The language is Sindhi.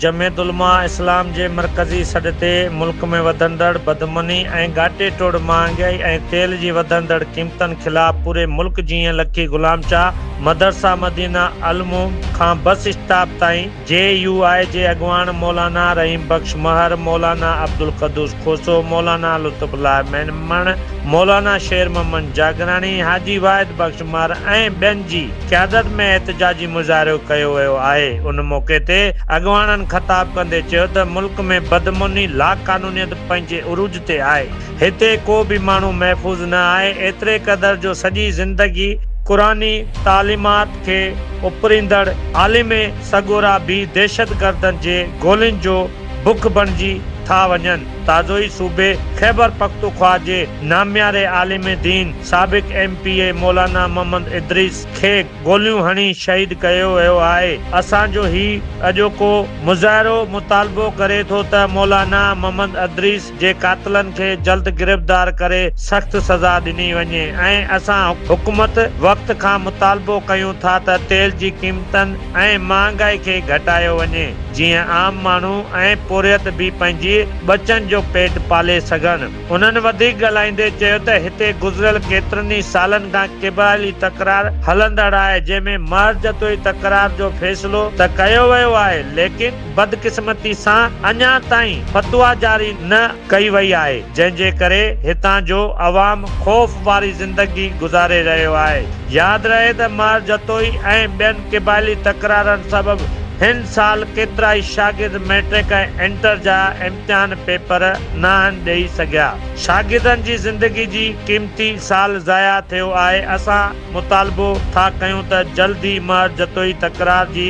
جمعيت علماء اسلام جي مرڪزي سڏ تي ملڪ ۾ وڌندڙ بدامني ۽ ڳاٽي ٽوڙ مهانگائي ۽ تيل جي وڌندڙ قيمتن خلاف پوري ملڪ جيئن لکي غلام شاهه مدرسه مدينه العلوم کان بس اسٽاپ تائين جي يو آء جي اڳواڻ مولانا رحيم بخش مهر، مولانا عبدالقدوس کوسو، مولانا لطف الله ميمڻ، مولانا شير محمد جاگراڻي، حاجي واحد بخش مهر ۽ ٻين جي قيادت ۾ احتجاجي مظاهرو ڪيو ويو آهي ان موقعي تي اڳواڻن خطاب ڪندي چيو ته ملڪ ۾ بدامني لاقانونيت پنهنجي عروج تي آهي هتي ڪو به ماڻهو محفوظ نه آهي، ايتري قدر جو سڄي زندگي قرآني تعليمات کي اپريندڙ عالم سڳورا به دهشتگردن جي گولين جو بک بڻجي ٿا وڃن. تازو ئي صوبي خيبرپختونخواهه جي نامياري عالم دين سابق M P A Maulana Muhammad Idris کي گوليون هڻي شهيد ڪيو ويو آهي. اسان جو هي اڄوڪو مظاهرو مطالبو ڪري ٿو ته مولانا محمد ادريس جي قاتلن کي جلد گرفتار ڪري سخت سزا ڏني وڃي ۽ اسان حڪومت وقت کان مطالبو ڪيون ٿا ته تيل جي قيمتن ۽ مهانگائي کي گهٽايو وڃي جيئن عام ماڻهو ۽ پورهيت به پنهنجي ٻچن جو پيٽ پالي سگهن. انهن وڌيڪ ڳالهائيندي چيو ته هتي گذريل ڪيترن ئي سالن کان قبائلي تڪرار هلندڙ آهي جنهن ۾ محرجتوئي تڪرار جو فيصلو ته ڪيو ويو آهي ليڪن بدقسمتي سان اڃا تائين فتويٰ جاري نه ڪئي وئي آهي، جنهن جي ڪري هتان جو عوام خوف واري زندگي گذاري رهيو آهي. ياد رهي ته مهر جتوئي ۽ ٻين قبائلي تڪرارن سبب هن سال ڪيترائي شاگرد مئٽرڪ ۽ انٽر جا امتحان پيپر ناهن ڏئي سگهيا. شاگردن جي زندگي جي قيمتي سال ضايع ٿيو آهي، اسان مطالبو ٿا ڪيون ته جلد ئي مهر جتوئي تڪرار جي